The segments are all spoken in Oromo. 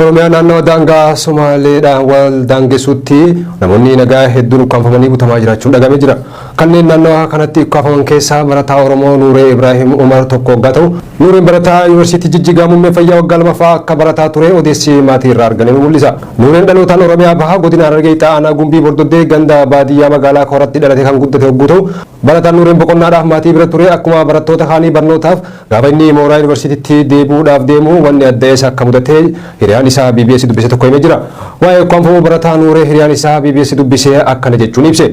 Oromiyaa naannawa daangaa Somaaleedhaan wal daangessuutti namoonni nagaa hedduun ukkaamfamanii butamaa jiraachuun dhaga'amee jira. Kanneen naannawa kanatti ukkaafaman keessaa barataa Oromoo Nuuree Ibraahim Umar tokko oggaa ta'u, Nuureen barataa Yuunivarsiitii Jijjigaa muummee fayyaa waggaa lamaffaa akka barataa ture odeessi maatii irraa argame ni mul'isa. Nuureen dhalootaan Oromiyaa Bahaa godina Harargee Lixaa aanaa Gumbii Bordoddee ganda baadiyyaa magaalaa Kooratti dhalatee kan guddate ogguu ta'u, barataan Nuureen boqonnaadhaaf maatii bira ture akkuma barattoota kaanii barnootaaf Gaafa inni mooraa yunivarsiitiitti deebi'uudhaaf deemu wanni adda isa akka mudate hiriyaan isaa BBS dubbise tokko himee jira. Waa'ee ukkaamfamuu barataa Nuuree hiriyaan isaa BBS dubbise akkana jechuun ibse.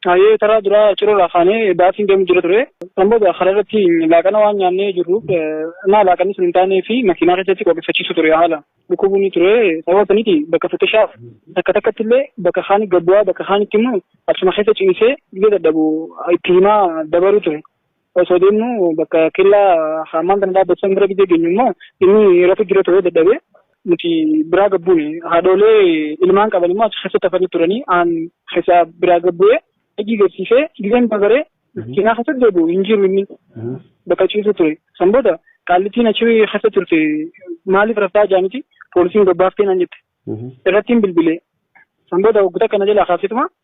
Hayyee karaa duraa cirorraa kaanee baasiin deemu jira ture. San booda karaa irratti laaqana waan nyaannee jirruuf naa laaqanni sun hin taanee fi makiinaa keessatti qooqeffachiisu ture haala dhukkubuun ture. Sababa saniiti bakka fixishaa takka takkatti illee bakka kaanii gabbu'aa bakka kaanitti immoo achuma keessa ciisee biyya dadhabu itti himaa dabaruu ture. Osoo deemnu bakka kellaa hammaan kana dhaabbatu san bira gidee geenyu immoo inni rafu jira ture dadhabee nuti biraa gabbuune haadhoolee ilmaan qaban immoo achi keessatti hafanii turanii aan keessaa biraa gabbu'ee hojii garsiisee gizeen bagaree cinaa keessatti deebi'u hin jiru inni bakka ciisu ture san booda qaallittiin achi keessa turte maaliif raftaa jaaniti poolisiin gabbaaftee naan jette irrattiin bilbilee san booda waggoota kana jalaa kaasituma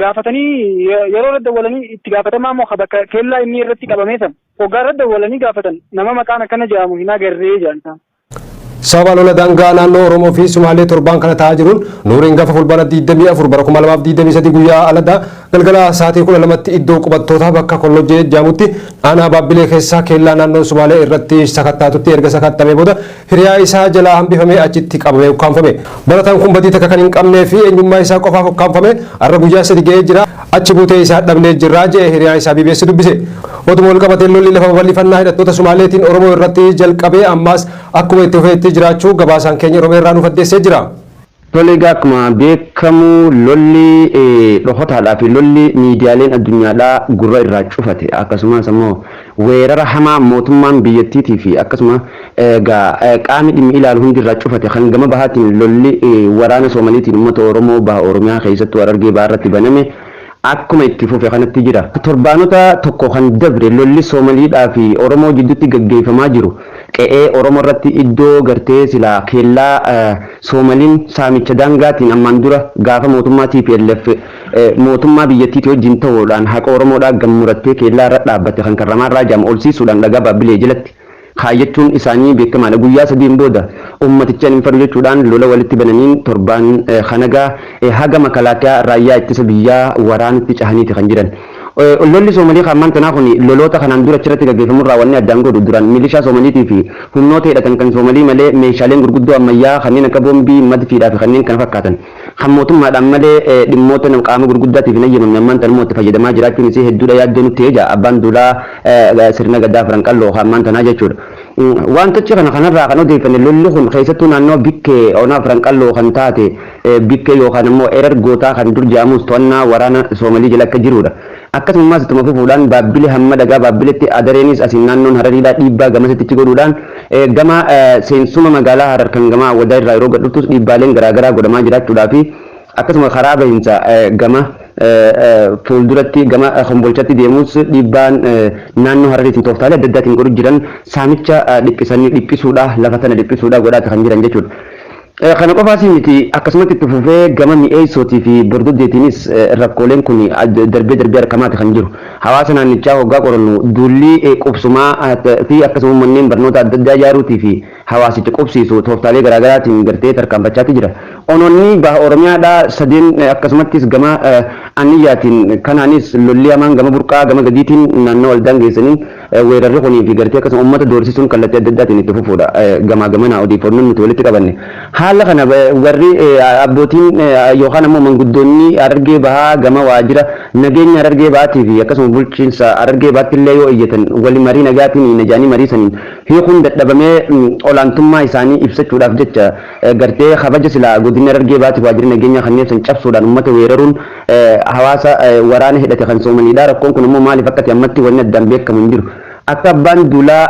gaafatanii yeroo irra dawwalanii itti gaafatamaa moo bakka keellaa inni irratti qabamee san hoggaa irra dawwalanii gaafatan nama maqaan akkana jedhamu hin agarree jedhan isaan. Sababa lola daangaa naannoo Oromoo fi Sumaalee torbaan kana ta'aa jiruun nuuriin gafa fulbaana 24 bara 2023 guyyaa aladda galgala sa'aatii 12tti iddoo qubattoota bakka kollojjee jedhamutti aanaa baabbilee keessaa keellaa naannoo Sumaalee irratti sakattaatutti erga sakattamee booda Hiriyaa isaa jalaa hambifamee achitti qabamee ukkaamfame. Barataan kun badii takka kan hin qabnee fi eenyummaa isaa qofaaf ukkaamfame har'a guyyaa sadi ga'ee jira. Achi buutee isaa dhabnee jirra, jedhe hiriyaan isaa BBS dubbise. Oduma wal qabateen lolli lafa babal'ifannaa hidhattoota Sumaaleetiin Oromoo irratti jalqabee ammaas akkuma itti fufeetti jiraachuu gabaasaan keenya Oromiyaa irraa nuuf addeessee jira. Tole egaa akkuma beekamu lolli dhokotaadhaa fi lolli miidiyaaleen addunyaadhaa gurra irraa cufate akkasumas ammoo weerara hamaa mootummaan biyyattiitii fi akkasuma egaa qaamni dhimmi ilaalu hundi irraa cufate kan gama bahaatiin lolli waraana Soomaliitiin uummata Oromoo baha Oromiyaa keessattuu Harargee bahaa irratti baname akkuma itti fufe kanatti jira. Torbaanota tokko kan dabre lolli Soomaliidhaa fi Oromoo jidduutti gaggeeffamaa jiru qe'ee Oromoo irratti iddoo gartee silaa keellaa Soomaliin saamicha daangaatiin ammaan dura gaafa mootummaa tplf mootummaa biyyattiitii wajjin ta'uudhaan haqa Oromoodhaa gad murattee keellaa irra dhaabbatte kan Karramaarraa jedhamu olsiisuudhaan dhagaa Baabbilee jalatti kaayyachuun isaanii beekamaadha. Guyyaa sadiin booda uummatichan hin fadu jechuudhaan lola walitti bananiin torbaan kanagaa haga makalaakiyaa raayyaa ittisa biyyaa waraanutti cahaniiti kan jiran. Lolli Soomalii ka ammaan tanaa kuni loloota kanaan dura achirratti gaggeeffamurraa wanni addaan godhu duraan milishaa Soomaliitiifi humnoota hidhatan kan Soomalii malee meeshaaleen gurguddoo ammayyaa kanneen akka boombii, madfiidhaafi kanneen kana fakkaatan Kan mootummaadhaan malee dhimmoota qaama gurguddaatiif hin hayyamamne ammaan tana immoo itti fayyadamaa jiraachuun isii hedduudha yaaddoo nutti ta'e jedha Abbaan Duulaa Sirna Gadaa Afran Qalloo kan ammaan tanaa jechuudha. Wantichi kana kanarraa kan odeeffanne lolli kun keessattuu naannoo Bikkee Ona Afran Qalloo kan taate Bikkee yookaan ammoo Erer Gootaa kan dur jedhamus to'annaa waraana Soomalii jala akka jiruudha. Akkasummaas ittuma fufuudhaan Baabbile hamma dhagaa Baabbiletti, Adareenis asiin naannoon Harariidhaa dhiibbaa gamasitti achi godhuudhaan gama seensuma magaalaa Harar kan gama Awwadaa irraa yeroo gad dhuftus dhiibbaaleen garaa garaa godhamaa jiraachuudhaa fi akkasuma karaa bahinsa gama fuulduratti gama Kombolchatti deemuus dhiibbaan naannoo Harariitiin tooftaalee adda addaatiin godhu jiran saamicha dhiphisanii dhiphisuudhaa lafa sana dhiphisuudhaa godhaati kan jiran jechuudha. Kana qofaas miti akkasumatti itti fufee gama mi'eessootii fi bordoddeetiinis rakkooleen kun darbee darbee argamaati kan jiru. Hawaasa naannichaa hoggaa qorannu duulli qubsumaa fi akkasuma manneen barnoota adda addaa ijaaruutii fi hawaasicha qubsiisu tooftaalee garaa garaatiin gartee tarkaanfachaati jira. Onoonni baha Oromiyaadhaa sadeen akkasumattis gama Anniyyaatiin kanaanis lolli hamaan gama Burqaa gama gadiitiin naannawa wal daangeessaniin Weerarri kunii fi gartee akkasuma ummata doorsisuun kallattii adda addaatiin itti fufuudha. Gamaa gamanaa odeeffannoon nuti walitti qabanne. Haala kana warri abbootiin yookaan ammoo manguddoonni Harargee Bahaa gama waajjira nageenya Harargee Bahaatii fi akkasuma bulchiinsa Harargee Bahaatti illee yoo iyyatan wali marii nagaatiin hiina jedhanii marii saniin hiikuun dadhabamee olaantummaa isaanii ibsachuudhaaf jecha gartee kabaja silaa godinni Harargee Bahaatiif waajjirri nageenyaa kenneef san cabsuudhaan ummata weeraruun hawaasa waraana hidhate kan Soomaliidha. Rakkoon kun ammoo maaliif akka ta'e ammatti wanni addaan beekamu hin jiru. Akka abbaan duulaa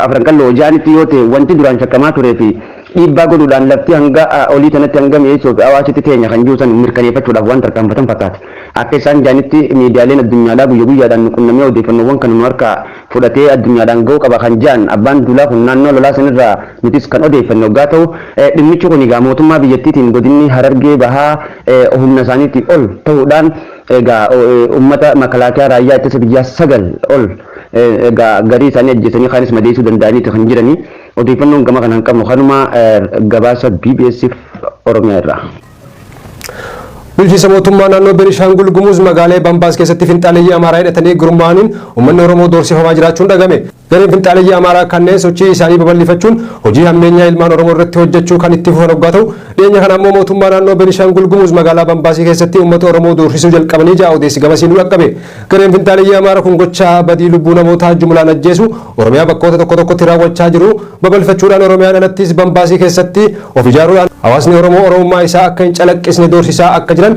Afran Qalloo jedhanitti yoo ta'e wanti duraan shakkamaa turee fi dhiibbaa godhuudhaan lafti hanga olii tanatti hanga mi'eessoo fi hawaasitti teenya kan jiru san mirkaneeffachuudhaaf waan tarkaanfatan fakkaata. Akka isaan jedhanitti miidiyaaleen addunyaadhaa guyya guyyaadhaan nu qunnamee odeeffannoowwan kana nu harkaa fudhatee addunyaadhaan ga'uu qaba kan jedhan abbaan duulaa kun naannoo lolaa sanirraa nutis kan odeeffanne oggaa ta'u dhimmichi kun egaa mootummaa biyyattiitiin godinni Harargee bahaa humna isaaniitii ol ta'uudhaan egaa uummata makalaakiyaa raayyaa ittisa biyyaa sagal ol egaa garii isaanii ajjeesanii kaanis madeessuu danda'aniiti kan jiranii odeeffannoon gama kanaan qabnu kanuma gabaasa BBSif Oromiyaa irraa. Bulchiinsa mootummaa naannoo Benishaangul Gumuz magaalee Bambaas keessatti finxaaleeyyii Amaaraa hidhatanii gurmaa'aniin uummanni Oromoo doorsifamaa jiraachuun dhagame. Gareen finxaaleyyii Amaaraa kanneen sochii isaanii babal'ifachuun hojii hammeenyaa ilmaan Oromoo irratti hojjechuu kan itti fufan oggaa ta'u, dhiyeenya kana ammoo mootummaa naannoo Benishaangul Gumuz magaalaa Bambaasii keessatti uummata Oromoo doorsisuu jalqabanii ja'a odeessi gamasii nu dhaqqabe. Gareen finxaaleyyii Amaara kun gocha badii lubbuu namootaa jumlaan ajjeesu Oromiyaa bakkoota tokko tokkotti raawwachaa jiru babal'ifachuudhaan Oromiyaan alattis Bambaasii keessatti of ijaaruudhaan hawaasni Oromoo Oromummaa isaa akka hin calaqqisne doorsisaa akka jiran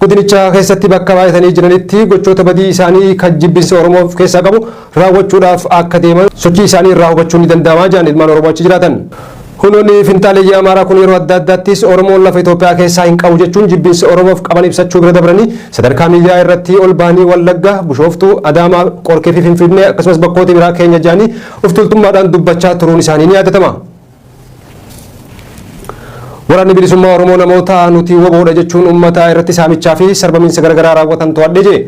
Godinicha keessatti bakka baay'atanii jiranitti gochoota badii isaanii kan jibbinsa Oromoo of keessaa qabu raawwachuudhaaf akka deeman sochii isaanii irraa hubachuun ni danda'ama jedhan ilmaan Oromoo achi jiraatan. Hunoonni finxaaleyyii Amaaraa kun yeroo adda addaattis Oromoon lafa Itoophiyaa keessaa hin qabu jechuun jibbinsa Oromoof qaban ibsachuu bira dabranii sadarkaa miidiyaa irratti ol bahanii Wallagga, Bushooftuu, Adaamaa, Qorkee fi Finfinnee akkasumas bakkoota biraa keenya jedhanii of tuultummaadhaan dubbachaa turuun isaanii ni yaadatama. Waraanni Bilisummaa Oromoo namoota nuti wbo dha jechuun uummata irratti saamichaa fi sarbamiinsa garagaraa raawwatan to'adhe jedhe.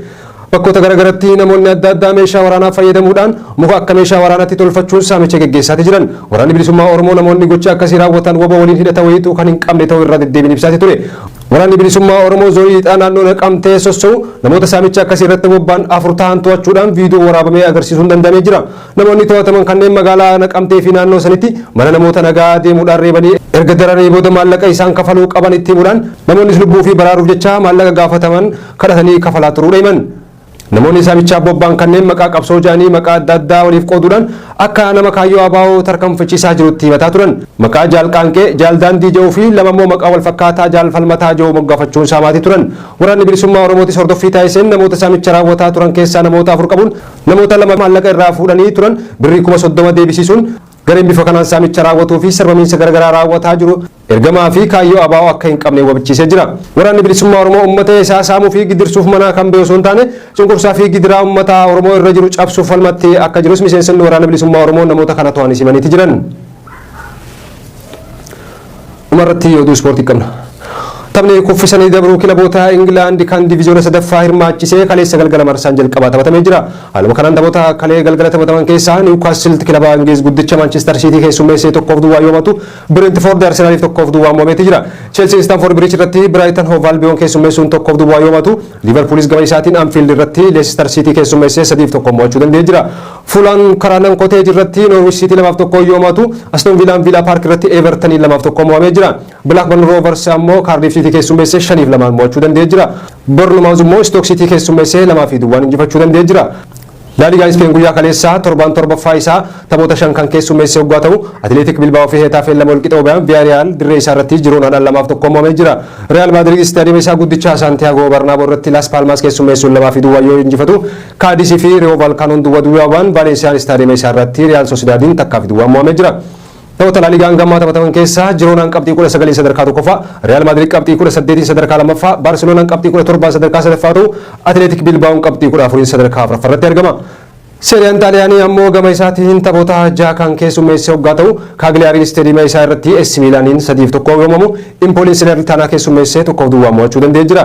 Bakkoota garagaratti namoonni adda addaa meeshaa waraanaa fayyadamuudhaan muka akka meeshaa waraanaatti tolfachuun saamicha geggeessaati jiran. Waraanni Bilisummaa Oromoo namoonni gocha akkasii raawwatan wbo waliin hidhata wayiituu kan hin qabne ta'uu irra deddeebiin ibsaati ture. Waraanni Bilisummaa Oromoo Zoonii Lixaa naannoo Naqamtee sosso'u namoota saamicha akkasii irratti bobba'an afur tahan to'achuudhaan viidiyoo waraabamee agarsiisuun danda'amee jira. Namoonni to'ataman kanneen magaalaa Naqamtee fi naannoo sanitti mana namoota nagaa deemuudhaan reebanii erga dararanii booda maallaqa isaan kafaluu qaban itti himuudhaan namoonnis lubbuu ofii baraaruuf jecha maallaqa gaafataman kadhatanii kafalaa turuudha himan. Namoonni saamichaaf bobba'an kanneen maqaa qabsoo jedhanii maqaa adda addaa waliif qooduudhaan akka nama kaayyoo ABO tarkanfachiisaa jirutti himataa turan. Maqaa Jaal Qaanqee, Jaal Daandii jedhuu fi lama immoo maqaa wal fakkaataa Jaal Falmataa jedhu moggaafachuun saamaatii turan. Waraanni Bilisummaa Oromootis hordoffii taasiseen namoota saamicha raawwataa turan keessaa namoota afur qabuun Namoota lama maallaqa irraa fuudhanii turan birrii kuma 30 deebisiisuun gareen bifa kanaan saamicha raawwatuu fi sarbamiinsa garagaraa raawwataa jiru ergamaa fi kaayyoo abo akka hin qabne wabichiisee jira. Waraanni Bilisummaa Oromoo ummata isaa saamuu fi gidirsuuf manaa kan bahe osoo hin taane cunqursaa fi gidiraa ummata Oromoo irra jiru cabsuuf falmatti akka jirus miseensonni Waraana Bilisummaa Oromoo namoota kana to'anis himaniiti jiran. Dhumarratti oduu ispoortii qabna. Taphni kuffisanii dabruu kilaboota Ingilaand kan diviziyoona sadaffaa hirmaachise kaleessa galgala marsaan jalqabaa taphatamee jira. Haaluma kanaan taphoota kalee galgala taphataman keessaa Niwukaasilt kilaba Ingliiz guddicha Maanchistar Siitii keessummeessee 1f duwwaa yoo mo'atu, Bireentifoord Arsenaaliif 1f duwwaan mo'ameeti jira. Cheelsiin Istaanfoord Biriij irratti Biraayitan Hoov Albiyoon keessummeessuun 1f duwwaa yoo mo'atu, Liiverpuulis gama isaatiin Anfiild irratti Leesistar Siitii keessummeessee 3f 1n mo'achuu danda'ee jira. Fulaan karaa Nan Koteej irratti Noorwich Siitii 2 fi 1n yoo mo'atu, Aston Viilaan Viilaa Paark irratti Eevartaniin 2 fi 1n mo'amee jira. Bilaakbarn Roovars ammoo Kaardiif Siitii keessummeessee 5 fi 2n mo'achuu danda'ee jira. Bornumaawuz immoo Istook Siitii keessummeessee 2 fi duwwaan injifachuu danda'ee jira. Laaligaan Ispeen guyyaa kaleessaa torbaan 7ffaa isaa taphoota 5 kan keessummeesse hoggaa ta'u, Atileetik Bilbaa'oo fi Heetaafeen 2 wal qixa yoo bayan Viyaariyaal dirree isaa irratti Jiroonaadhaan 2 fi 1n mo'amee jira. Riyaal Maadiriid istaadiyeema isaa guddicha Saantiyaagoo Barnaaboo irratti Laas Paalmaas keessummeessuun 2 fi duwwaan yoo injifatu, Kaadis fi Riyoo Vaalkaanoon duwwa duwwaa ba'an Vaalensiyaan istaadiyeema isaa irratti Riyaal Sosidaadiin takkaa fi duwwaan mo'amee jira. Taphoota Laaliigaan gammaa taphataman keessaa Jiroonaan qabxii 19n sadarkaa tokkoffaa, Riyaal Maadiriid qabxii 18n sadarkaa lammaffaa, Baarseloonaan qabxii 17n sadarkaa sadaffaa ta'u, Atileetik Bilbaa'oon qabxii 14n sadarkaa afraffaa irratti argama. Seeriyaan Xaaliyaanii ammoo gama isaatiin taphoota jaha kan keessummeesse hoggaa ta'u, Kaagliyaariin istaadiyeema isaa irratti AC Miilaaniin 3 fi 1 yoomamu, Impooliin Selernitaanaa keessummeessee 1 fi duwwaan mo'achuu danda'ee jira.